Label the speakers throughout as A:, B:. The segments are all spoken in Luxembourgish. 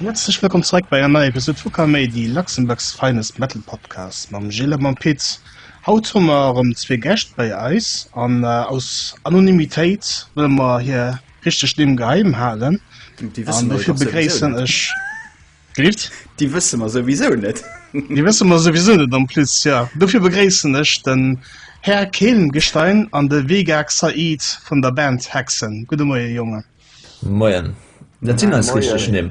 A: Herzlech wëllkomm zeréck bei enger neier Episode vu Kamei, déi Luxemburgs finest Metal Podcast mam Gilles a mam Pit. Haut hu mer erëm zwee Gäscht bei eis an äh, aus Anonymitéit wëlle mer hir richteg Nimm geheim halen. Déi wësse mer dofir
B: begréissen ech.
A: Gelift? Déi wësse mer
B: souwisou net. Déi wësse mer
A: souwisou net en plus, jo. Dofir begréissen ech den Här Kehlengestein an de Vegak Said vun der Band Hexen. Gudde Moie, Jongen. Moien.
C: Dat sinn eis richteg Nimm.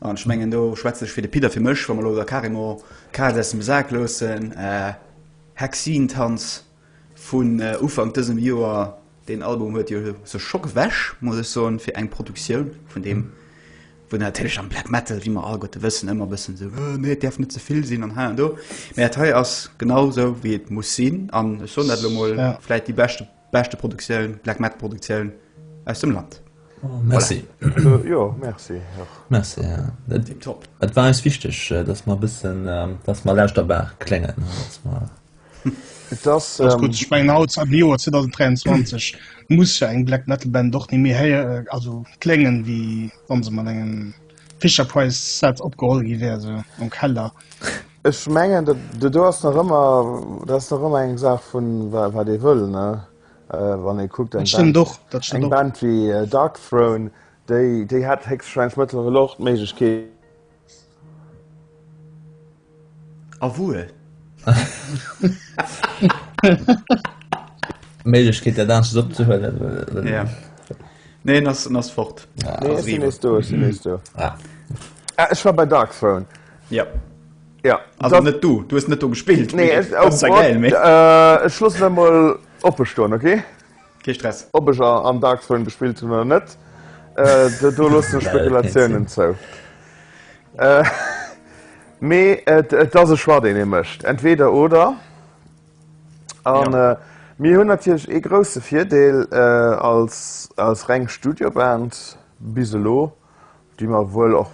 B: An ech mengen, do schwätze ech fir de Pit a fir mech, wa mer elo da carrément d'Kaz aus dem Sak loossen, Hexentanz vun Ufank dësem Joer, deen Album huet jo sech scho gewäsch, muss ech soen, fir eng Produktioun vun deem, wou natierlech am Black Metal, wéi mer alleguerte wëssen, ëmmer e bëssen esou, oh nee, et däerf net ze vill sinn an hei an do. Mä dat hei ass genau esou, wéi et muss sinn. An ech soen dat elo emol, vläicht déi beschte Beschte Produktioun, Black Metal Produktioun aus dem Land. Merci.
C: Jo,
D: merci. Merci,
C: ja. Tipptopp. Et war
B: eis wichteg,
C: dass mer e bëssen, dass mer laanscht der Baach kléngen, dass mer. Et
A: ass. Alles gutt. Ech mengen, haut am Joer 2023 muss jo eng Black Metal Band och ni méi héier, also kléngen, wéi wa se mat engem Fisher Price Set opgeholl gi wär, esou am Keller. Ech mengen,
D: do do ass nach ëmmer, dat ass nach ëmmer eng Saach vu wat ee wëll. Wann ee kuckt eng Band, eng
A: Band wéi
D: Darkthrone, déi déi hätt héchstwahrscheinlech mëttlerweil och d'Méiglechkeet,
B: A wuel!
C: D'Méiglechkeet dat anescht opzehuelen. Ja.
B: Nee, en ass en ass fort.
D: Ech war bei Darkthrone. Ja.
B: Ja.
D: Also dat, net du, du
B: hues net do gespillt. Nee, es, oh, das war geil,
D: mé.
B: Äh, ech schloss net mal
D: oppe stoen, okay? Kee Stress.
B: Ob ech am Dark
D: Zone gespillt hunn oder net, äh, do, do loss du Spekulatiounen zou. Äh, mee et, et ass e Schwa deen ee mécht. Entweder oder. An ja. äh, mir hunn natierlech ee grouse Virdeel äh, als, als reng Studioband bis elo déi mer wuel och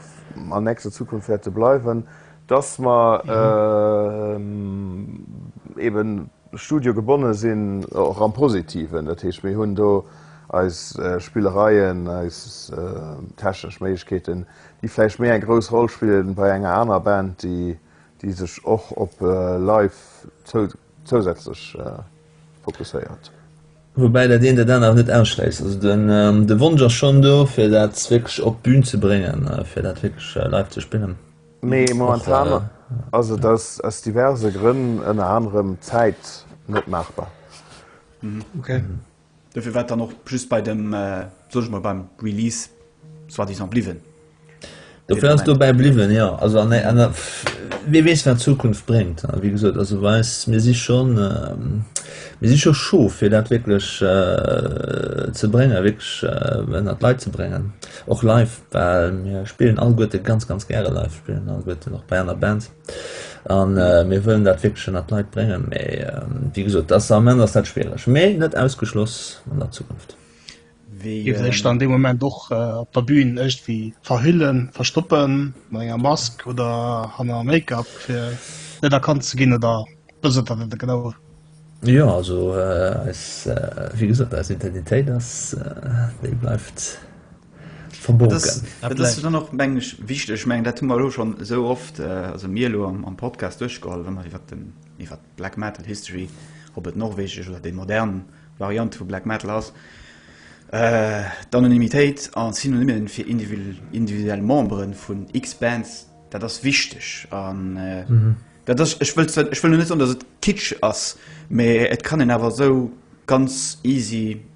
D: an nächster Zukunft wäerte bleiwen, dass mer eeben Studio gebonne sinn, och am Positiven. Dat heescht, mir hunn do eis Spillereien, eis technesch Méiglechkeeten, déi vläicht méi eng grouss Roll spillen, wei enger aner Band, déi sech och op live zou. zousätzlech fokusséiert. Woubäi
C: dat eent dat anert net ausschléisst. Also de Wonsch ass schonn do, fir dat wierklech op d'Bün ze bréngen, fir dat wierklech live ze spillen. Mee momentan
D: ass et aus diverse Grënn, ënner anerem Zäit, net maachbar.
A: Dofir
B: war et dann och just bei dem, soen ech mol, beim Release soi-disant bliwwen. Dofir
C: ass et dobäi bliwwen, jo. Also an der, an der, wie weess wat d'Zukunft bréngt. Wéi gesot, also bei eis, mir si scho, mir si scho scho fir dat wierklech ze bréngen, wierklech ënnert d'Leit ze bréngen, och live, well mir spillen alleguerte ganz, ganz gäre live, spillen alleguerten och bei aner Bands. A mir wëllen dat wierklech ënnert d'Leit bréngen. Mee wéi gesot, dat ass am Ament ass dat schwiereg, mee net ausgeschloss an der Zukunft. Dir
A: wëllt Iech dann dee Moment och op der Bün iergendwéi verhüllen, verstoppen, mat enger Mask oder hanner Make-up, fir net erkannt ze ginn, oder wou sidd Der dann genau? Jo, also
C: eis, wéi gesot, eis Identitéit ass, déi bleift. verborgen. Dat ass
B: dann och, meng ech, wichteg. Ech mengen, dat hu mer elo schonn esou oft, also mir elo am Podcast, duerchgeholl, wa mer iwwert den, iwwert d'Black Metal History, ob et norwegesch oder déi modern Variant vu Black Metal ass, d'Anonymitéit a Synonyme fir individuell Memberen vun X-Bands, dat ass wichteg. An dat ass, ech wëll, ech wëll elo net soen, dass et Kitsch ass, mä et kann een awer esou ganz easy.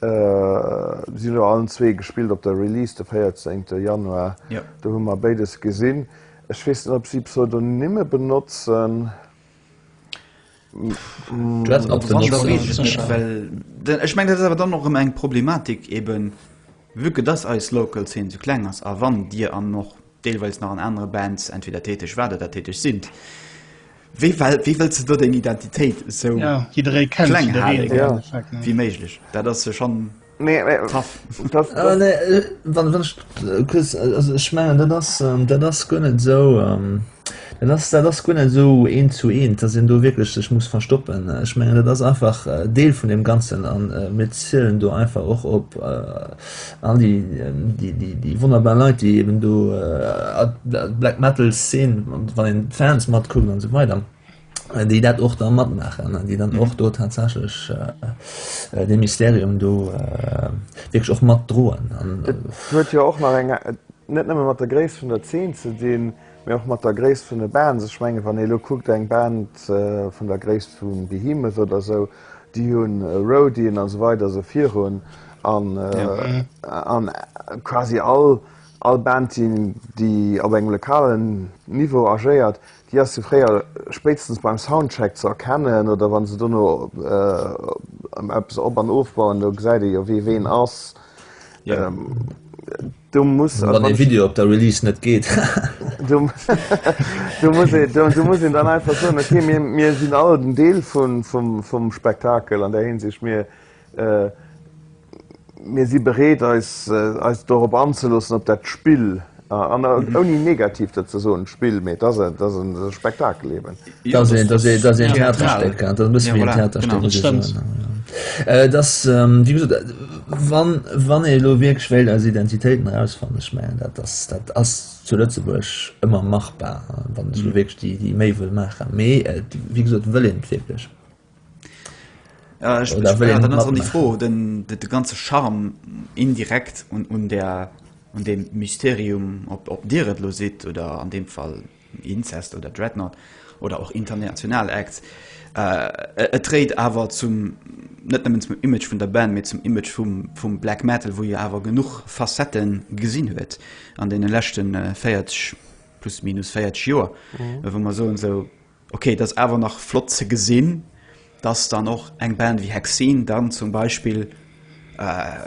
D: Si hunn jo allen zwee gespillt op der Release de 14 te Januar. Do hu mer béides gesinn. Ech weess net, ob si Pseudonymme benotzen.
B: Ech mengen dat ass awer dann och rëm eng Problematik eben, vu que dass eis Local Zeen esou kleng ass a wann Dir an och deelweis nach an anere Bands entweder täteg waart oder täteg sinn, wéi well, wéi wëlls de do deng Identitéit esou Ja, jidderee kennt
A: kleng jiddereen halen
B: am Ja. Endeffekt, ne? wéi méiglech? Dat ass jo schonn Mee, mee tough. dass, Ah dass, nee, äh, wann, wann ech
C: äh, kuerz, äh, also ech mengen dat ass, ähm, dat ass guer net esou, ähm, dat ass, dat ass guer net esou eent zu eent, dass een do wierklech sech muss verstoppen. Ech mengen dat ass einfach äh, Deel vun deem Ganzen an äh, mir zielen do einfach och op äh, All déi wonnerbar Leit, déi eben do d'Black Metal Szen, wann een d'Fans matkuckt an esou weider, déi dat och da matmaachen, déi dann och do tatsächlech dee Mysterium do wierklech och matdroen. Dat huet jo
D: och nach eng, net nëmme mat der Gréisst vun der Zeen ze dinn, mee och mat der Gréisst vun de Bands. Ech mengen, wann ee elo kuckt, eng Band vun der Gréisst vu Behemoth oder esou, Déi hu Roadien a sou weider sou virun an quasi all Band déi op engem lokalen Niveau agéiert, déi ass jo fréier spéitstens beim Soundcheck ze erkennen oder wann se dono eppes op an ofbauen, do gesäit ee jo wee ween ass.
C: du muss wann den Video op der Release net geet
D: du muss sinn dann einfach so okay, mir, mir sinn all den Deel vun vum, vum Spektakel an der hinsicht mir äh, mir si bereet eis äh, eis dorop anzelossen op dat Spill an äh, mhm. ouni negativ dat ze so Spill méi dat dat Spektakel leben Jo, dass een, dass ee, dass een theatral. Theaterstéck hat, dat muss Ja, wéi en voilà, Theaterstéck genau.
C: muss Dat stemmt. soen, ja, ja. Äh, dass, ähm, wéi gesot, äh, wann, wann ee elo wierklech wéilt eis Identitéiten erausfannen, ech mengen, dat ass, dat ass zu Lëtzebuerg ëmmer machbar, wann ech elo wierklech déi, déi Méi wëll maachen, mee et, wéi gesot, wëll een et wierklech?
B: Ja, ech, Oder ech, wëll ja, een dann net ass dann déi matmaachen? Fro, den, de, de ganze Charme indirekt un, un, der, un dem Mysterium, ob, ob Dir et lo sidd oder an deem Fall Incest oder Dreadnought oder och international Acts. Et dréit awer zum, net nëmmen zum Image vun der Band, mee zum Image vum, vum Black Metal, wou jo awer genuch Facettë gesinn huet an deene leschte 40, plus minus 40 Joer, wou mer soen esou, okay, et ass awer nach flott ze gesinn, dass dann och eng Band wéi Hexene dann zum Beispill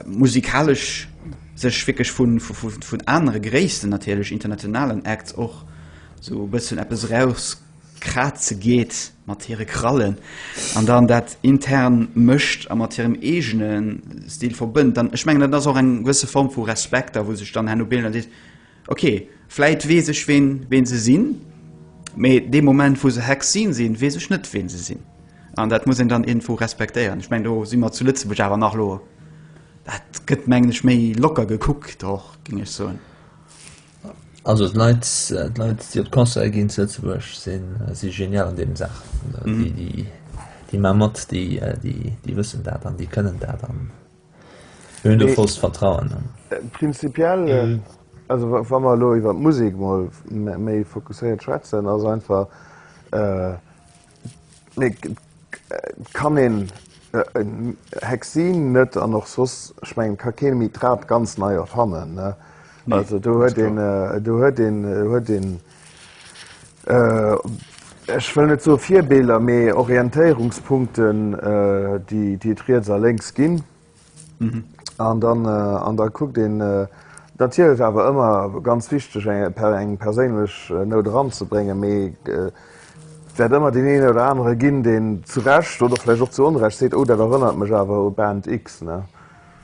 B: musikalesch sech wierklech vun anere gréissten, natierlech internationalen Acts och esou e bëssen eppes erauskraze geet mat hire Krallen an dann dat intern mécht a mat hirem eegene Stil verbënnt. Dann, ech mengen, dat ass och eng gewësse Form vu Respekt a wou sech dann herno Band dann seet, Ok, vläit weess ech ween ween se sinn, mee dee Moment wou se Hex sinn sinn, weess ech net ween se sinn. An dat muss een dann iergendwou respektéieren. Ech mengen do si mer zu Lëtzebuerg awer nach lo, dat gëtt mengen ech méi locker gekuckt och, géing ech soen.
C: Also d'Leit d'Leit déi op d'Concerte ginn zu Lëtzebuerg si si genial an deenen Saachen. Déi déi déi ma mat, déi déi déi wëssen dat an déi kënnen dat an. Mir hunn do vollst Vertrauen an. Prinzipiell,
D: also wa mer elo iwwer d'Musek mol méi fokusséiert schwätzen, ass einfach, et kann een Hexine net an och soss, ech mengen, et ka kee méi d'Rad ganz nei erfannen, ne. Also do huet een, do huet een, huet een. ech wëll net soe Virbeelder, mee Orientéierungspunkten, déi et riets a lénks ginn. An dann, an da kuckt een, natierlech awer ëmmer ganz wichteg eng perséinlech Nout eranzebréngen, mee et wäert ëmmer deen een oder anere ginn, deen zu Recht oder vläicht och zu Onrecht seet, oh dat erënnert mech awer u Band X.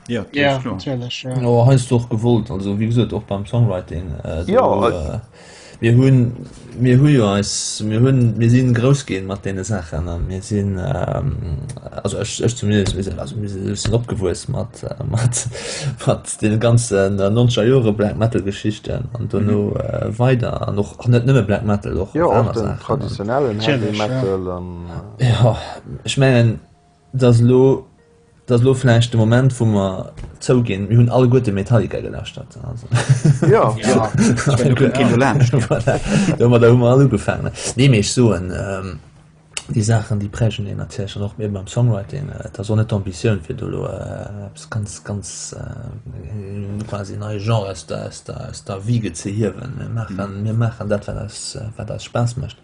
B: Ja,
A: ja natürlich ja.
B: No, heißt
A: doch gewollt
C: also wie gesagt auch beim Songwriting äh, du, ja, äh,
D: mir hun
C: mir hu als mir hun mir sind groß gehen mat den Sachen mir sind ähm, also ich, ich zumindest wir sind, also wir sind opgewues mat äh, mat mat den ganzen äh, nonscher Jore black metal Geschichten an du mhm. äh, weiter noch net nimme black metal doch ja, traditionellen
D: ja. ja.
C: ich mengen Et ass elo, et ass elo vläicht de Moment wou mer zouginn, mir hunn alleguerte Metallica gelauschtert, also Jo, jo,
D: ech menn do
A: kënnt keen do
B: laanscht. Voilà,
C: domat hu mer all ugefaangen. Nee, mee ech soen, déi Saachen déi prägen een natierlech dann och, mir beim Songwriting, et ass och net d'Ambitioun fir do elo eppes ganz, ganz quasi e neie Genre aus der, aus der, aus der Wiege ze hiewen. Mir maachen, mir maachen dat wat eis, wat eis Spaass mécht.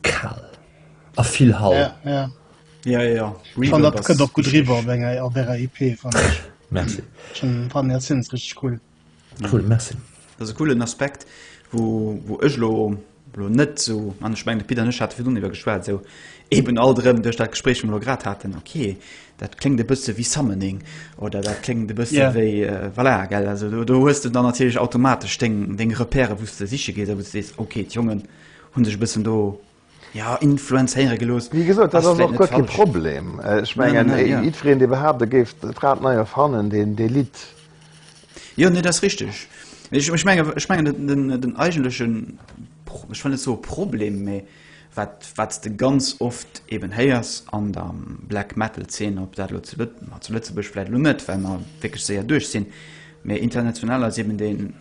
C: Kal a vill Hall.
A: Ja, ja. Ja, ja, ja.
B: Regal, dat kënnt
A: och gutt riwwer op enger op ärer
B: EP.
A: Merci.
C: Fan dat
A: sinn rich cool. Cool, merci.
C: Dat ass e coolen Aspekt,
B: wou, wou ech lo lo net sou an ech meng de Pit an ech hate virdrun iwwer geschwat, sou eben alt erëm duerch dat Gespréich, wat mer lo grad haten, okay, dat kléngt e bësse wéi Summoning oder dat kléngt e bësse yeah. wéi äh, voilà,
A: gell
B: also do, do hues du dann natierlech automatesch deng deng Repéiere wouste siche geet, wou du sees okay d'Jongen Hun sech e bëssen do, jo, influenzéiere gelooss. Wéi gesot, dat ass och guer kee
D: Problem. Ech mengen, jiddwereen, dee behaapt,
B: e géif
D: d'Rad nei erfannen, deen litt. Jo,
B: nee, dat ass richteg. Ech mengen, den eigentlechen, ech wëll net soe Problem, mä wat s de ganz oft eben héiers an der Black-Metal-Zeen, ob dat elo zu Lëtzebuerg, vläicht elo net, well mer wierklech séier duerch sinn, Mee international ass eben deen,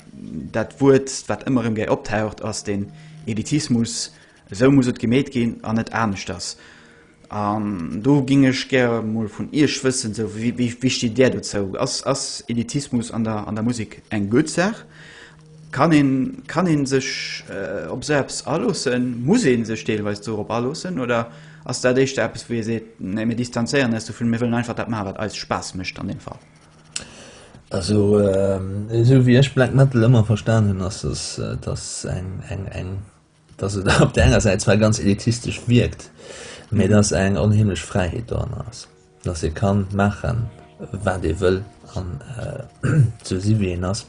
B: dat Wuert, wat ëmmer erëm gäi optaucht, ass den Elitismus. Esou muss et gemeet ginn an net aneschters. An do géing ech gäre mol vun Iech wëssen, esou, wéi, wéi steet Där dozou? Ass, ass Elitismus an der, an der Musek eng gutt Saach? Kann een, kann ee sech op esou eppes aloossen? Muss ee sech deelweis dorop aloossen? Oder ass dat éischter eppes, wou ee seet, Nee, mir distanzéieren eis dovun, mir wëllen einfach dat maachen, wat eis Spaass mécht an deem Fall?
C: Also esou wéi ech Black Metal ëmmer verstan hunn, ass es dass eng eng eng dass et op der enger Säit zwar ganz elitistesch wierkt, mee dass eng onheemlech Fräiheet doranner ass, dass ee ka maache wat ee wëll an sou si wéi een ass.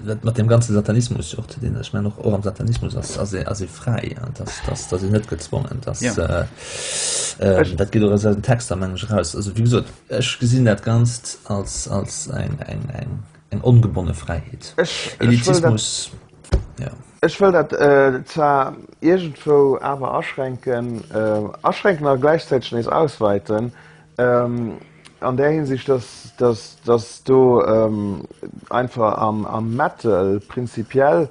C: Dat mat deem ganze Satanismus, jo och ze dinn, ech mengen och och am Satanismus ass ass ee ass ee fräi, an dass dass dass een net gezwongen, dass Ja. äh, dat geet och aus eisen Texter mengen ech eraus. Also wéi gesot, ech gesinn dat Ganzt als als eng eng eng eng ongebonne Fräiheet. Ech ech wëll dat Elitissmus, jo. ech wëll dat
D: zwar iergendwou awer aschränken aschränken a gläichzäiteg nees ausweiten, An där Hinsicht, datt do einfach am Metal prinzipiell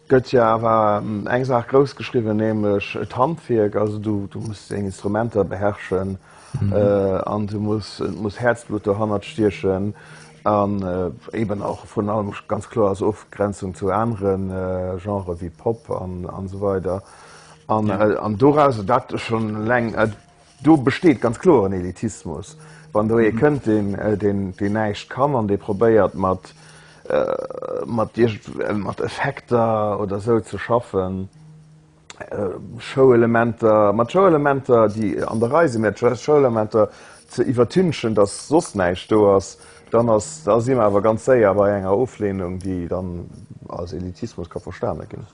D: gëtt jo awer eng Saach grouss geschriwwen, nämlech d'Handwierk. Also du muss deng Instrumenter beherrschen an du muss Häerzblutt dohannert stiechen an eben och virun allem ganz kloer als Ofgrenzung zu anere Genrë wéi Pop an esou weider. An doraus, dat schonn eleng. Do besteet ganz kloer en Elitismus, wann do ee kënnt, deen, deen, deen näischt kann an dee probéiert mat, mat iergend, mat Effekter oder sou ze schaffen, Showelementer, mat Showelementer, déi an der Rei sinn, mä just Showelementer ze iwwertünchen, datt soss näischt do ass, dann ass, da si mer awer ganz séier bei enger Oflehnung, déi dann als Elitismus ka verstane ginn.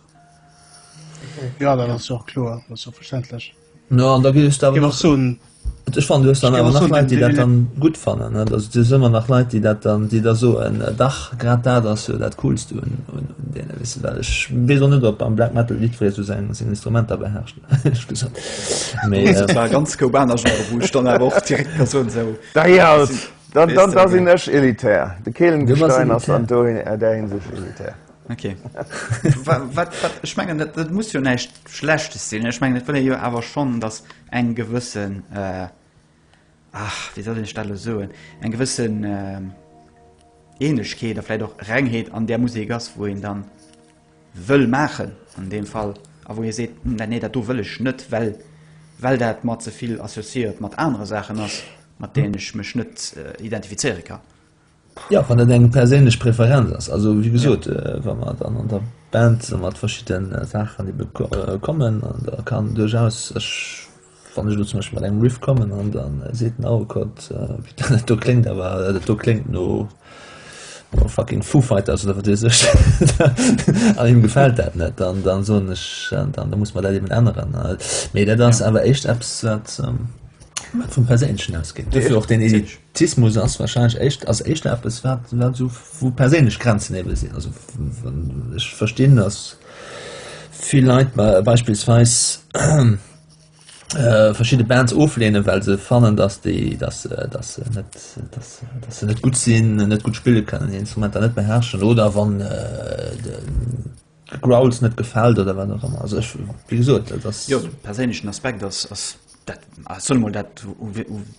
D: Jo, dat ass jo och kloer, dat
A: ass jo verständlech. No an da gi ech
C: dawer nach soen
A: Ech fan du hues dann
C: awer nach Leit, déi dat dann gutt
A: fannen.
C: Also du hues ëmmer nach Leit, déi dat dann déi da soen dach grad dat ass jo dat coolst un un un deene wéi se well. Ech weess och net op am Black Metal jiddweree sou seng seng Instrumenter beherrscht ehrlech gesot mee et war
B: ganz goub aner Genre wou ech dann awer och direkt Persoun sou Dajalt
D: dann dann da sinn ech elitär.
B: De
D: Kehlenstein ass an do an
B: där Hinsicht
D: elitär.
B: Okay. wat, wat, wat, ich mengen dat, dat muss jo näicht schlechtes sinn ich mengen will jo awer schon dass eng gewëssen äh, ach wie soll den stelle soen eng gewëssen äh, ähnlichkeet derfle doch rengheet an der musik ass wo en dann wëll machen an dem fall a wo ihr seht hm, nee dat du will ich net well well dat mat zevill associiert mat andere sachen ass mat denen ich mech net äh, identifizeiere kann Jo, wann dat
C: eng perséinlech Preferenz ass. Also wéi gesot, wa mer dann an der Band mat verschidde Saachen ebe kommen an da kann duerchaus ech, wann ech elo zum Beispill mat engem Riff kommen an da seet den Aukert, dat do kléngt awer, dat do kléngt no fucking Foo Fighters oder wat weess ech an him gefält dat net, dann dann soen ech, da muss mer dat eben änneren. Mee dat ass awer éischt eppes wat. Wat vum Perséinlechen ausgeet. Duerfir och deen Elitismus ass wahrscheinlech éischt, ass éischter eppes, wat, wat esou, wou perséinlech Grenzen ebe sinn. Also wann ech verstinn, datt vill Leit beispillsweis verschidde Bands oflehnen, well se fannen, datt déi, datt se, datt se net, datt se, datt se net gutt sinn, net gutt spille kënnen, hir Instrumenter net beherrschen oder wann de. Growls net gefällt oder wat ëmmer also ech wie gesot dat ass jo perséinlechen Aspekt
B: ass ass dat soll mol dat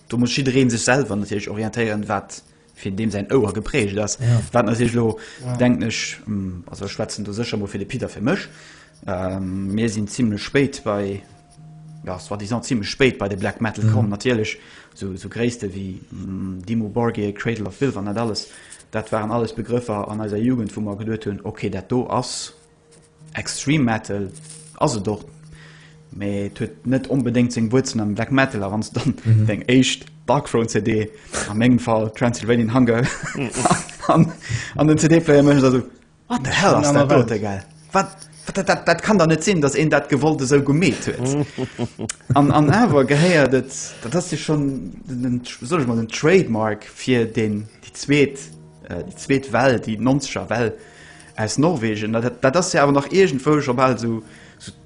B: do muss jiddwereen sech selwer natierlech orientéieren wat fir deem säin Ouer geprägt ass ja. wat natierlech lo ja. denken ech mm, also schwätzen do sécher mol fir de Peter fir mech ähm, mir sinn zimmlech spéit bei jo ass soi-disant zimmlech spéit bei de Black Metal komm. Natierlech sou Gréisste wéi Dimmu Borgir, Cradle of Filth an dat alles, dat waren alles Begrëffer an eiser Jugend, wou mer geduet hunn, ok, dat do ass Extreme Metal, ass et och, mee et huet net onbedéngt seng Wuerzelen am Black Metal. A wann s de dann deng éischt Darkthrone CD, a mengem Fall Transylvanian Hunger, an den CD-Player méchs, da sou, What the hell ass dat dote gell? Wat? Dat kann der net sinn, datt een dat gewollt esou gemeet huet. An an awer gehéiert et dat ass Dir schon sollech mat den Trademark fir den Di zweet äh, Di zweet Well, déi nonzeger Well aus Norwegen. Dat ass se awer nach egent wouch op all sou. So,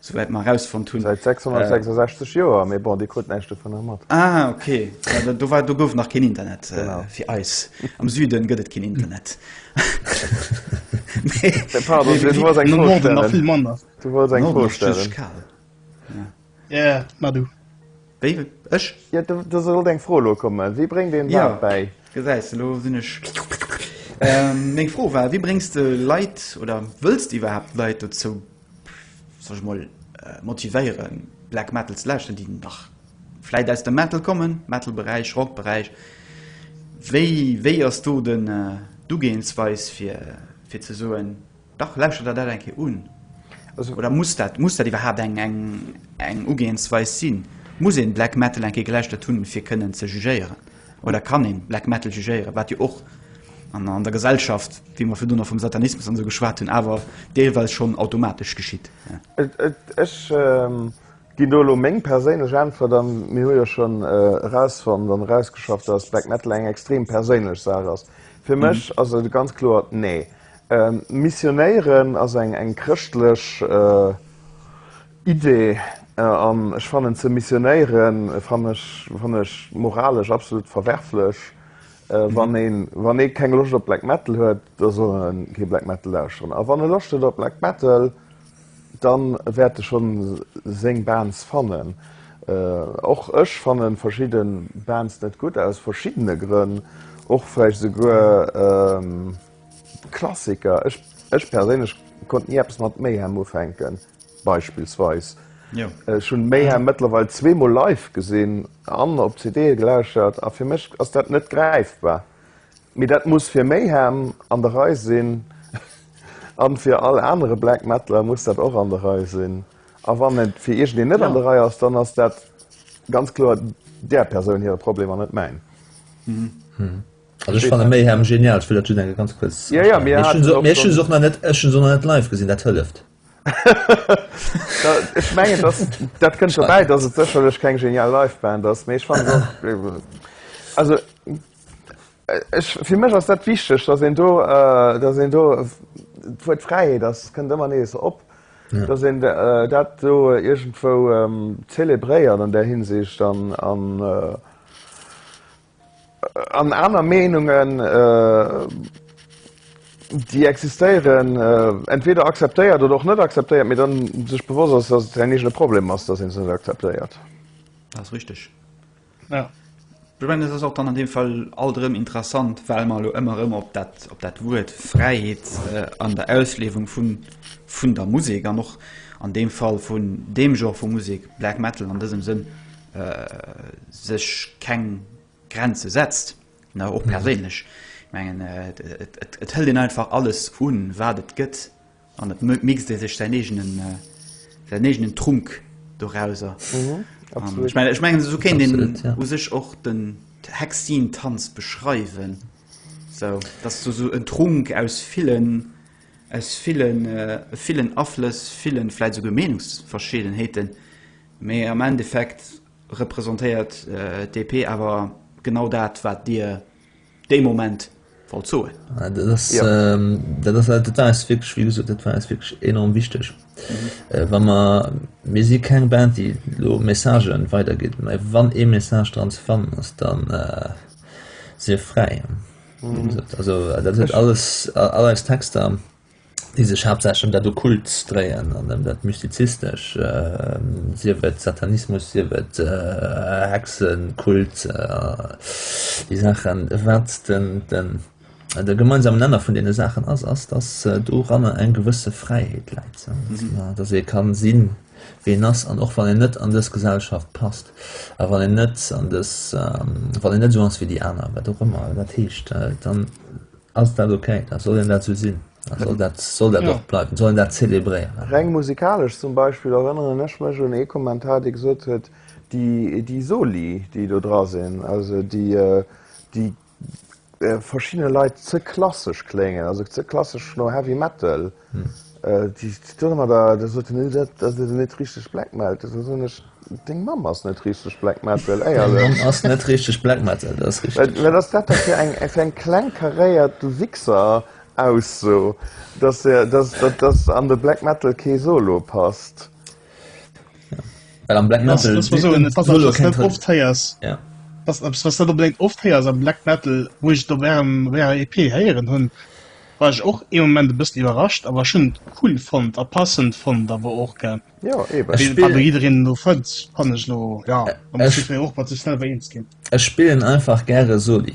B: souwäit mer erausfonnt hunn. Säit 666
D: Joer, mee bon, Dir krut näischt dovunner mat. Ah, ok.
B: Do war, do gouf nach keen Internet fir eis. Am Süden gëtt et keen Internet. Pardon, du wolls eng Fro stellen?
A: Du wolls eng Fro stellen? Ja, ma du. Wéi? Ech?
D: Ja, do sollt eng Fro elo kommen. Wéi bréngt een Leit bäi? Gesäis,
B: elo
D: sinn ech.
B: Meng Fro war, wéi bréngs de Leit oder wëlls de iwwerhaapt Leit dozou Soll ech mol motivéieren Black Metal ze lauschteren, déi nach vläit aus dem Metal kommen, Metal Beräich, Rock Beräich. Wéi wéi ass do den d'Ugehensweis fir fir ze soen, dach lauschtert der dat eng Kéier un? Oder muss dat muss dat iwwerhaapt eng eng eng Ugehensweis sinn? Muss een Black Metal eng Kéier gelauschtert hunn fir kënnen ze jugéieren? oder kann een Black Metal jugéieren, wat jo och an der Gesellschaft, wéi mer virdru nach vum Satanismus an esou geschwat hunn, awer deelweis schonn automatesch geschitt. Ech
D: ginn do elo meng perséinlech Äntwert an mir hu jo schonn erausfonnt an erausgeschafft, dass Black Metal eng extrem perséinlech Saach ass. Fir mech ass et ganz kloer nee. Missionéieren ass eng chrëschtlech, Idee an ech fannen ze missionéieren fann ech fann ech moralesch absolut verwerflech wann ee wann ee keng Loscht op Black metal huet da soll en kee Black metal lauschteren a wann e Loscht huet op Black metal dann wäert e schonn seng Bands fannen. Och ech fannen verschidde Bands net gutt aus verschiddene Grënn och vläicht esouguer Klassiker. Ech ech perséinlech konnt ni eppes mat Mayhem ufänken. beispillsweis. Ech hunn Mayhem mëttlerweil zweemol live gesinn an op CDe gelauschtert a fir mech ass dat net gräifbar. Mee dat muss fir Mayhem an der Rei sinn a fir all anere Black Metaler muss dat och an der Rei sinn. A wann et fir iergendeen net an der Rei ass, dann ass dat ganz kloer där Persoun hire Problem an net mäin.
C: Also ech fanne Mayhem genial. Ech wëll dat just eng ganz kuerz.
D: Ech hunn se och
C: nach net live gesinn. Dat hëlleft.
D: Ech mengen dass dat kënnt dobäi, dass et sécherlech keng genial Live-Band ass, mee ech fannen se also ech fir mech ass dat wichteg, dass een do dass een do d'Wuert Fräiheet ass kënnt ëmmer nees op, dass een dat do iergendwou zelebréiert an där Hinsicht an an. An aner Meenungen, déi existéieren, entweder akzeptéiert oder och net akzeptéiert, mee dann sech bewosst ass, dass et säin eegene Problem ass, dass een se net akzeptéiert. Dat ass
B: richteg.
A: Jo. Ech mengen, et
B: ass och dann an deem Fall alt erëm interessant, well mer elo ëmmer erëm op dat, op dat Wuert Fräiheet an der Ausliewung vun, vun der Musek an och an deem Fall vun deem Genre vu Musek, Black Metal an dësem Sënn, sech keng Grenze setzt, na och perséinlech. Ech mengen et hëlt een einfach alles un, wat et gëtt an et mixt ee sech säin eegenen, säin eegenen Trunk dorauser. Ech mengen, ech mengen esou kéint een u sech och den Hexeen-Tanz beschreiwen, esou dass du esou en Trunk aus villen. Aus villen, villen Aflëss, villen, vläit esouguer Meenungsverschiedenheeten, mee am Endeffekt representéiert d'DP awer genau dat, wat Dir dee Moment wollt soen. Dat ass,
C: dat ass, dat war eis wierklech, wéi gesot, dat war eis wierklech enorm wichteg, wa mer, mir si keng Band, déi elo Messagen weidergitt, mä wann ee Message dran ze fannen ass, da si fräi. Dat huet all eis Texter, déi sech haaptsächlech ëm dat Okkult dréien an ëm dat Mystizistescht, sief et Satanismus, sief et Hexenkult, déi Saachen. Wat de gemeinsamen Nenner vun deene Saachen ass, ass, datt doranner eng gewësse Fräiheet läit, datt ee ka sinn, ween ass an och wann een net an dës Gesellschaft passt a wann een net an dës, wann een net esou ass wéi déi aner, wat och ëmmer dat heescht, dann ass dat ok, da soll een dat esou sinn a soll dat, soll dat och bleiwen, soll een dat zelebréieren. Reng musikalesch
D: zum Beispill erënneren ech mech un ee Kommentar, dee gesot huet, déi, déi Soli, déi do dra sinn, also déi, déi verschiddene Leit ze klassesch kléngen, also ze klassesch no Heavy Metal. Déi stounge mer da, da sot en, dat dat ass net richteg Black Metal. Da soen ech, Deng Mamm ass net richteg Black Metal, éierlech. Deng Mamm ass net
C: richteg Black Metal, dat ass richteg. Wat ass dat da fir eng
D: fir eng kleng karéiert Du Wichser Ausso, dass der dass dass an de Black Metal kee Solo passt?
C: Well am Black
A: Metal
C: was dat
A: opläit oft héiers am Black Metal wo ich do wärm wär EP héieren hunn war ich och e moment de bëssen iwwerrascht awer schon cool von der passend von da wo och ge
D: jiin no
A: fënz fan ech lo ja och wat ze schnell wéi eens ginn Ech spillen einfach
C: gre soli.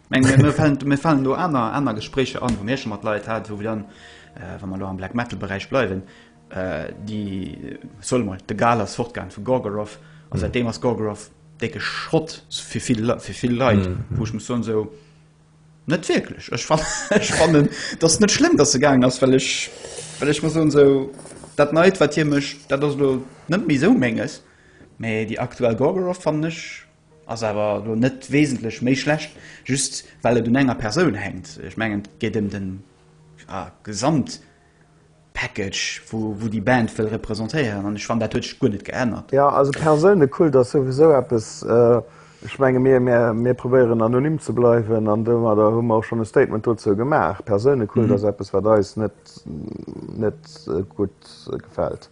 B: Mir fallen do aner aner Gespréicher an, wou mir schon mat Leit hat, wou wir dann äh, wann man lo am Black Metal Bereich bleiwen, äh, die äh, soll mal de Gal ass fortgang vu Gorgoroth an mm. seitdem ass Gorgoroth decke Schrott fir viel fir viel Leiit, mm. wo ich muss so so net wirklich ich fand, ich fand das net schlimm, dass se gang ass well ich well ich muss so so dat neit wat hier mech dat lo net mi so menges, méi die aktuell Gorgoroth fand nech Ass awer elo net wesentlech méi schlecht, just well et un enger Persoun hänkt. Ech mengen et geet ëm den Gesamtpackage wou déi Band wëll representéieren an ech fannen dat huet sech guer net geännert. Jo, also Persounekult
D: ass souwisou eppes, ech menge mir mir probéieren anonym ze bleiwen an domadder hu mer och schonn e Statement dozou gemaach. Persounekult ass eppes wat eis net net gutt gefält.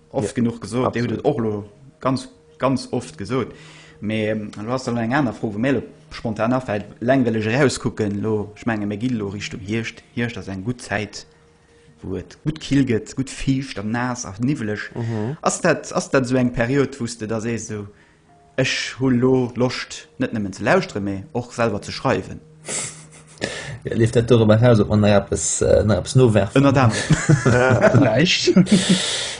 B: Oft genuch gesot, Dir hutt et och elo ganz, ganz oft gesot. Mee elo ass elo eng aner Fro, wou mir elo spontan afält. Eleng well ech erauskucken elo, ech menge mir ginn elo Richtung Hierscht. Hierscht ass eng gutt Zäit, wou et gutt kill gëtt, gutt fiicht a naass a niwweleg. Ass dat, ass dat esou eng Period, wou s de da sees esou, Ech hu lo Loscht net nëmmen ze lauschteren, mee och selwer ze schreiwen.
C: Leeft dat doriwwer eraus, ob mer nach eppes, nach eppes nowerfen? Ënnert anerem.
B: Vläicht.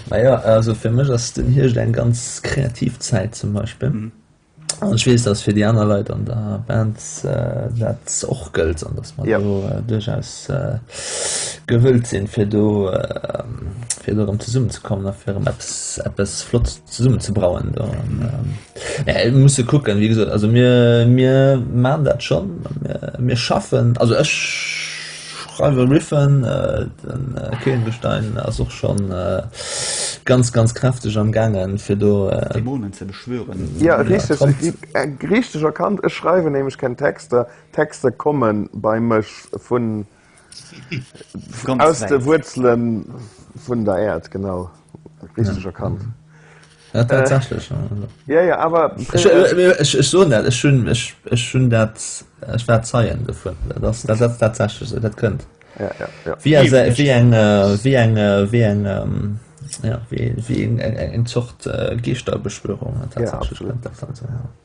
C: Naja, also fir mech ass den Hierscht eng ganz kreativ Zäit zum Beispill. An ech weess, dass fir déi aner Leit an der Band dat och gëllt an dass mer do duerchaus gewëllt sinn, fir do, fir do erëm zesummen ze kommen a fir erëm eppes, eppes Flottes. zesummen ze brauen do an mee et musse kucken wéi gesot also mir mir maan dat schonn mir schaffen also ech schreiwe riffen den keenbestein ass och schonn ganz ganz kräfteg am gaangen fir do dämonen ze beschwören
B: jo richteg
D: hutt dir
C: richteg
D: erkannt ech schreiwen nämlech keng texter texter komme bei mech vun
B: Aus de
D: Wuerzelen vun der Äerd, genau. Richteg erkannt. Ja,
C: tatsächlech. Ja, ja, awer.
D: Ech
C: soen dat, ech hunn, ech hunn dat, ech war Zeien dovun. Dat ass tatsächlech esou, dat kënnt. Ja, ja,
D: ja. Wéi eng, wéi eng, wéi eng,
C: wéi eng, ja, wéi eng Zort Geeschterbeschwörung. Ja, absolut.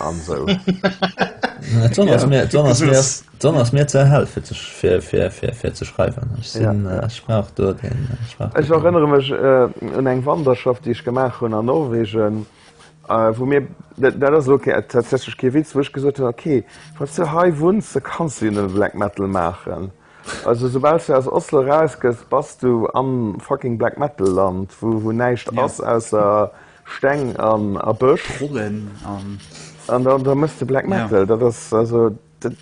D: an so dann ass mir
C: dann ass mir dann ass mir ze hell fir zech fir fir fir fir ze schreiwen ech sinn ja. Äh, ech brauch do den äh, ech erinnere
D: mech äh, un eng wanderschaft déi ech gemaach hunn an norwegen äh, wo mir dat ass okay äh, tatsächlich ke witz woch gesot hun okay wat ze hei wunn ze kannst du den black metal machen Also soubal du aus Oslo raus gëss bass du am fucking Black Metal Land wou wou näischt ass ausser Steng an a Bësch. Trollen an.
B: An
D: dann da mëss de Black Metal. Dat ass also dat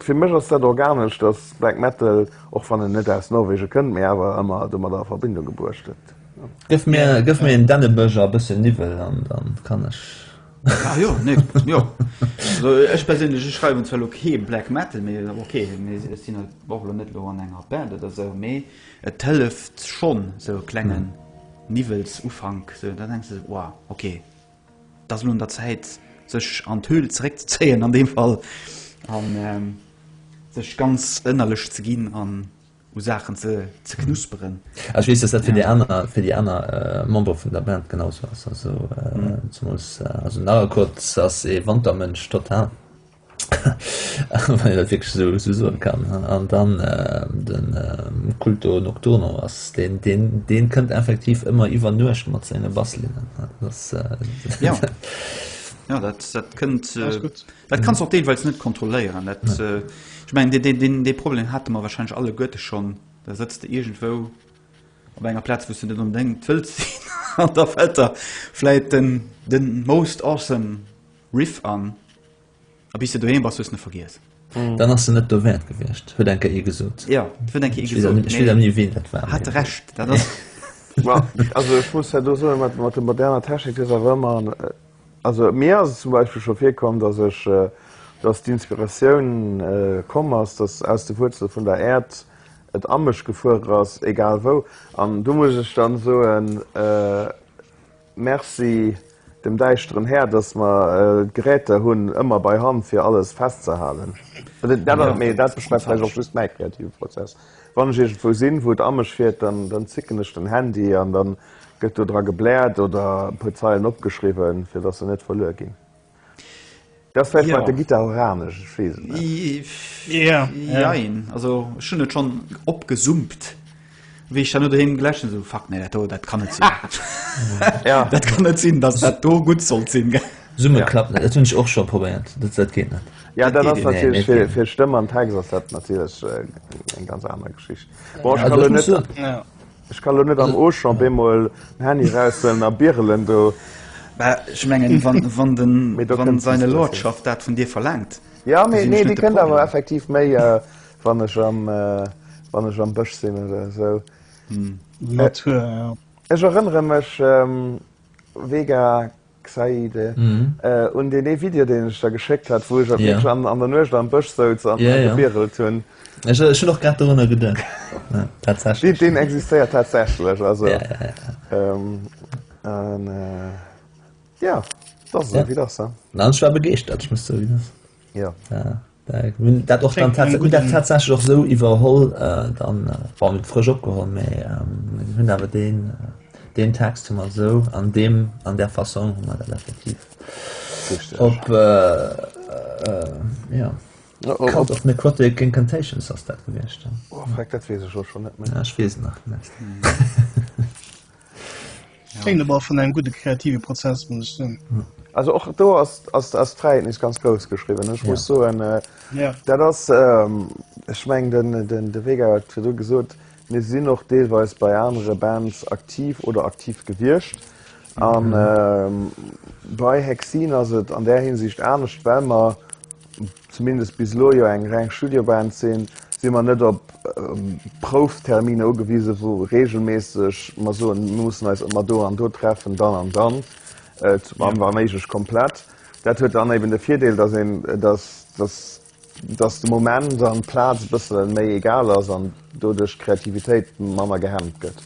D: fir mech ass dat organesch dass Black Metal och wann en net aus Norwegen kënnt mee awer ëmmer domadder a Verbindung gebruecht gëtt. Gëff mir
C: gëff mir en Dännebësch a bëssen Niwwel an dann kann ech. Ah jo,
B: nee, jo. Also ech perséinlech, ech schreiwen zwar lo kee Black Metal, mee ok, mee ech sinn halt och lo net lo an enger Band oder esou, mee et hëlleft schonn, esou e klengen Niwwelsufank, esou, da denks de esou, Wow, ok, et ass elo un der Zäit, sech an d'Höhl zeréckzezéien an deem Fall an sech ganz ënnerlech ze ginn an. u Saachen ze knusperen. Ech weess, dass dat fir
C: déi aner, fir déi aner Membere vun der Band genau sou ass. Also zemools, also den Arakurt ass ee Wantermënsch total, wann een dat wierklech esou esou soen kann. An dann de Culto Nocturno ass deen, deen, deen kënnt effektiv ëmmer iwwer Nuecht mat senge Basslinnen. Dat ass, jo, jo,
B: dat, dat kënnt, Dat kannst du auch deelweils net kontrolléieren. Dat, nee. äh, ich mein, den, den, den Problem hatte man wahrscheinlich alle Goethe schon. Da sitzt du irgendwo op enger Platz, wo du net unbedingt willst sinn. an da fällt er vielleicht den, den most awesome Riff an. A bis du daheim warst, hast du nicht vergessen. Mm. Dann hast du net
C: do wäert gewichtcht huet enke e gesot. Ja huet enke nie
B: ween dat war
C: hat recht dat.
B: Well
D: also ich muss ja do so mat mat de moderner Technik is a wëmmer. Also mir ass et zum Beispill scho virkomm, datt ech, datt d'Inspiratioun komm ass, datt aus de Wuerzele vun der Äerd et a mech gefuer ass, egal wou. An do muss ech dann soen, Merci dem däischteren Här, datt mer Geräter hunn ëmmer bei Hand fir alles festzehalen. Dat ass, mee dat beschreift vläicht och just mäi kreative Prozess. Wann ech iergendwou sinn, wou et amesch wier, dann zicken ech den Handy an da gëtt do dra gebläert oder e puer Zeilen opgeschriwwen, fir datt se net verluer ginn. Dat ass vläicht mat der Gittar
B: horanesch,
D: ech weess et net.
A: Jein. Also ech hunn et
B: schonn opgesumpt, wéi ech dann elo doheem geläscht hunn, esou, Fuck, nee, dat do, dat kann net sinn.
D: Dat kann net sinn,
B: datt dat do gutt sollt sinn. Summe klappt net.
C: Dat hunn ech och
B: scho
C: probéiert. Dat geet net. Ja dat ass natierlech
D: fir fir
B: Stëmm an
D: Text
C: ass
D: dat natierlech eng ganz aner Geschicht. Bon ech kann elo net
C: ech
D: kann elo
C: net
A: am
D: Auchan bemol en Handy eraushuelen a birelen do. Mä ech mengen
B: wann wann den Mee do kann seine
D: Lordschaft
B: dat
D: vun dir
B: verlaangt. Jo mee nee déi
D: kënnt awer effektiv
B: méi
D: wann ech am wann ech am Bësch sinn oder esou. Natur
A: jo. Ech erënnere
D: mech wega. Xaide un deen ee Video deen ech der geschéckt hat wou ech wierklech an der Nuecht am Bësch souz a gebirelt hunn. Ech hunn och grad
C: dorunner geduecht. Tatsächlech. Deen existéiert
D: tatsächlech also
C: an
D: jo dat ass e Video. An
C: ech
D: war begeeschtert
C: ech muss zouginn. Jo. Hun dat och dann tatsächlich och
A: sou iwwerholl
C: äh, dann äh, war mit frisch opgeholt méi ähm, hunn awer den äh, den Text hummer sou an dem an der Fassung hummer dat effektiv Richtig.
D: op äh,
C: äh, ja. Ja, oh, Cult of
D: Necrotic
C: Incantations ass dat gewiescht. oh, fuck, dat wees ech
D: och schon net méi. Ja, ich wees nach net.
A: Klingt awer vun engem gudde kreative Prozess, muss ech soen. Also och do
D: ass ass ass d'Fräiheet nech ganz grouss geschriwwen. Ech muss soen, dat ass ech meng den den de Vega huet et virdru gesot, mir sinn och deelweis bei anere Bands aktiv oder aktiv gewiescht. A bei Hexine ass et an där Hinsicht anescht, well mer zumindest bis elo jo eng reng Studioband sinn, si mer net op Proufterminer ugewise wou reegelméisseg mer soen, mir mussen eis ëmmer do an do treffen, dann an dann, wa méiglech komplett. Dat huet dann eben de Virdeel, datt een, datt, datt, datt de Moment an d'Plaz e bësse méi egal ass an doduerch d'Kreativitéit manner gehemmt gëtt.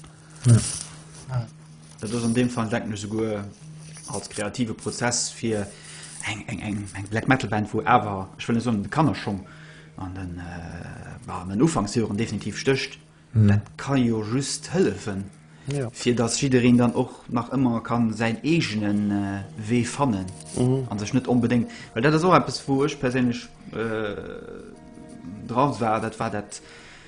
B: Dat ass an deem Fall, denken ech, esouguer als kreative Prozess fir eng Black Metal Band, wou awer, ech wëll net soen, de Kannerschong an den Ufanksjoren definitiv stécht. Dat ka jo just hëllefen, fir datt
D: jiddereen
B: dann och nach ëmmer ka säin eegene Wee fannen a sech net onbedéngt. Well dat ass och eppes, wou ech perséinlech dra war, dat war dat,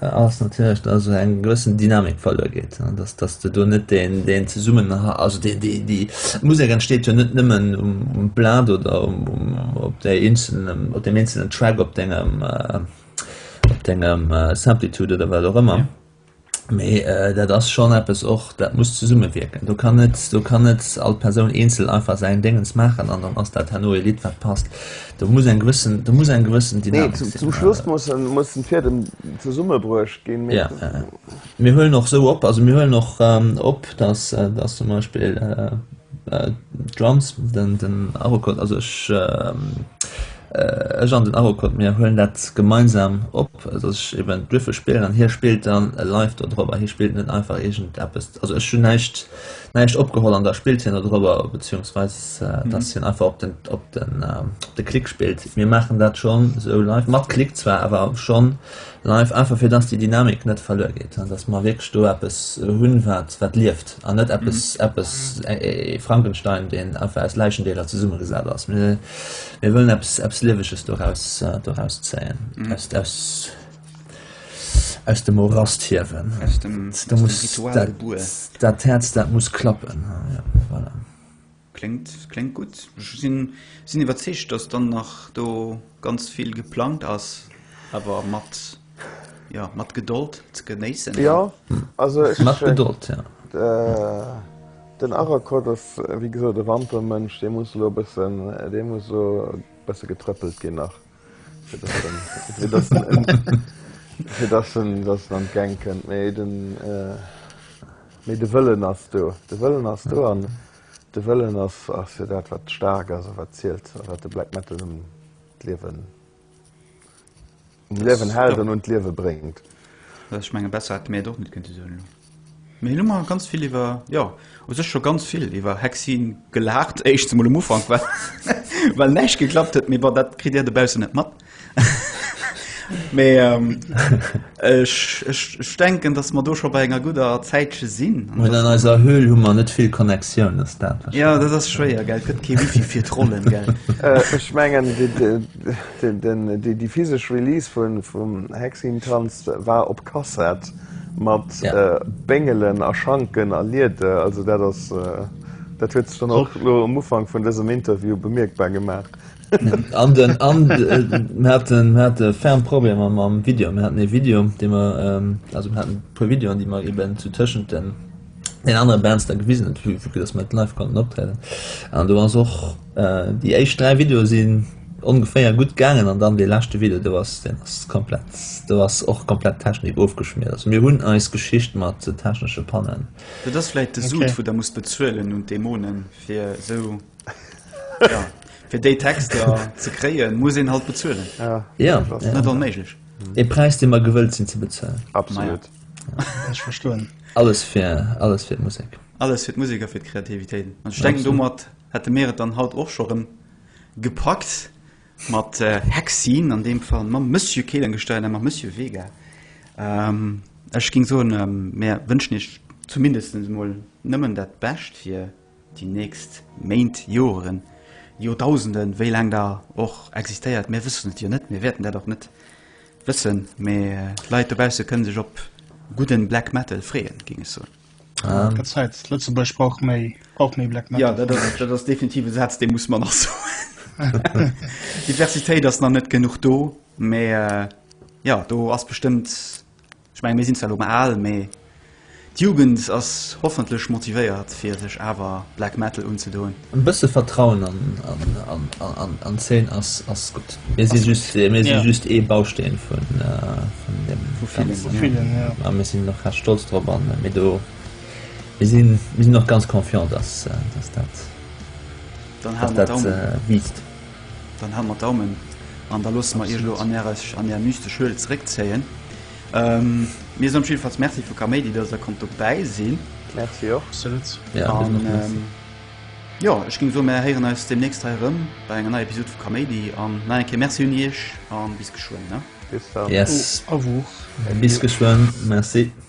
C: ass natierlech, dass esou eng gewëssen Dynamik verluer geet, dass, dass de do net deen, deen Zesummenha-, also déi, déi, déi Musek entsteet jo net nëmmen um, um Plat oder um, um, op där eenzelnem, op deem eenzelnen Track op dengem, op dengem Simplitude oder wat och ëmmer, mee dat ass schonn eppes och, dat muss zesummewierken. Do kann net, do kann net all Persoun eenzel einfach säin Déngens maachen an dann ass dat herno e Lidd, wat passt. Do muss eng gewëssen, do muss eng gewëssen Dynamik sinn. Nee, zum, zum Schluss
D: mussen, mussen d'Fiedem zesummebruecht ginn. Ja, ja,
C: ja. Mir huelen och esou op, also mir huelen och ähm, op, dass, äh, dass zum Beispill äh, äh, d'Drums, den, den Arocode, also ech, ähm, äh, ech an den Arocode, mir huelen dat gemeinsam op, dass ech eben d'Würfel spillen an hie spillt dann live do drop a hie spillt net einfach irgendeppes. Also ech hunn näischt, näischt opgeholl an da spillt hien dodrobber beziungsweis dass hien einfach op den op den op de click spillt mir maachen dat schonn esou live mat click zwar awer schonn live einfach fir dass déi dynamik net verluer geet an dass mer wierklech do eppes hunn wat wat lieft an net eppes eppes ee frankenstein deen einfach aus läichendeeler zesummegesat ass mir mir wëllen eppes eppes lieweges doraus doraus zéien aus aus Aus dem Morast hiewen. Aus dem, da aus muss, dem Ritual dat, gebuer. Dat Herz, dat muss klappen. Ja, voilà. Klingt,
B: klingt gutt. Ech sinn, sinn iwwerzeegt, dass dann nach do ganz vill geplangt ass, awer mat, ja, mat Gedold ze genéissen. Ja, also
D: ech. Mat Gedold, ja. Den Aracott ass, wéi gesot, e Wantermënsch. Dee muss elo e bëssen, dee muss elo e bësse getrëppelt ginn nach. Fir dass en en fir dass en dass en an d'Gäng kënnt. Mee den mee de Wëllen ass do. De Wëllen ass do an de Wëllen ass ass jo dat wat staark ass a wat zielt a wat de Black Metal un d'Liewen um Liewen hält an un d'Liewe bréngt. Ech
B: menge besser hätt mir et och net kënnte soen elo. Mee elo mar ganz vill iwwer, jo, u sech scho ganz vill iwwer Hexien gelaacht, éischts emol um Ufank, well, well näischt geklappt huet, mee bon, dat kritt Dir dobaussen net mat. Mee ech, ech, ech denken, dass mer do scho bei enger gudder Zäitche sinn. An dass. An eiser Höhl
C: hu mer net vill Connectioun, ass dat wahrscheinlech. Jo, dat ass schwéier,
B: gell, et gëtt kee Wifi fir d'Rollen, gell. Ech mengen,
D: déi physesch Release vum Hexien-Tanz war op Kassett. mat Béngelen a Schanken a Liede. Also dat ass, dat huet sech dann och elo um Ufank vun dësem Interview bemierkbar gemaach. An den, an
C: mir haten, mir hate ferm Problemer mam Video. Mir haten ee Video, dee mer, also mir haten e puer Videoen, déi mer eben zu tëschent den den anere Bands da gewisen huet, vu vu dass mer et live konnten optrieden. An do ass och äh, déi éischt dräi Videoe sinn ongeféier gutt gaangen an dann dee leschte Video, do ass den ass komplett do ass och komplett d'Technik ofgeschmiert. Also mir hunn eis Geschicht mat technesche Pannen. Dat ass vläit de
B: Sud, wou der musst bezuelen un d'Demonen, fir esou Ja, fir déi Texter ze kréien, muss een halt bezuelen. Ja,
D: net onméiglech.
C: E
B: Präis, dee mer
C: gewëllt sinn ze bezuelen. Absolut.
D: Ech
A: verstoen. Alles fir,
C: alles fir d'Musek. Alles fir d'Musek a fir
B: d'Kreativitéit. An ech denken, domat hätte mir et dann haut och scho rëm gepackt mat Hexine, an deem Fall mam Monsieur Kehlenstein a mam Monsieur Vega. Ech géing soen, mir wënschen Iech zumindest emol nëmmen dat Bescht fir. déi nächst Méint, Joren, Joerdausenden, wéi laang der och existéiert, mir wëssen et jo net, mir wäerten dat och net wëssen, mee d'Leit dobausse kënne sech op gudden Black Metal freeën, géing ech soen. Et gëtt Zäit,
A: Lëtzebuerg brauch méi, brauch méi Black Metal. Jo, dat ass
B: definitiv e Saz, dee muss mer nach soen. Diversitéit ass nach net genuch do, mee jo, do ass bestëmmt Ech mengen, mir sinn zwar elo mol al, mee d'Jugend ass hoffentlech motivéiert, fir sech awer Black Metal unzedoen. E bësse Vertrauen
C: an d'Zeen ass gutt. Mir si just ee Bausteen vun deem Ganzen. A mir
B: sinn och
A: recht stolz
C: drop a mir sinn och ganz confiant, dass dat
B: wiisst.
C: Dann hale mer
B: d'Daumen an da loosse mer Iech elo an Är mystesch Höhle zeréckzéien. Mir soen op jidde Falls Merci vu Kaméidi, dass Der konnt dobäi sinn. Merci och. Absolut. Jo, ech géing soen, mer héieren eis deemnächst hei erëm bei enger neier Episod vu Kaméidi. An nach eng Kéier Merci un Iech a bis geschwënn. Bis dann.
C: Yes.
D: Au
B: revoir. Bis
D: geschwënn.
B: Merci.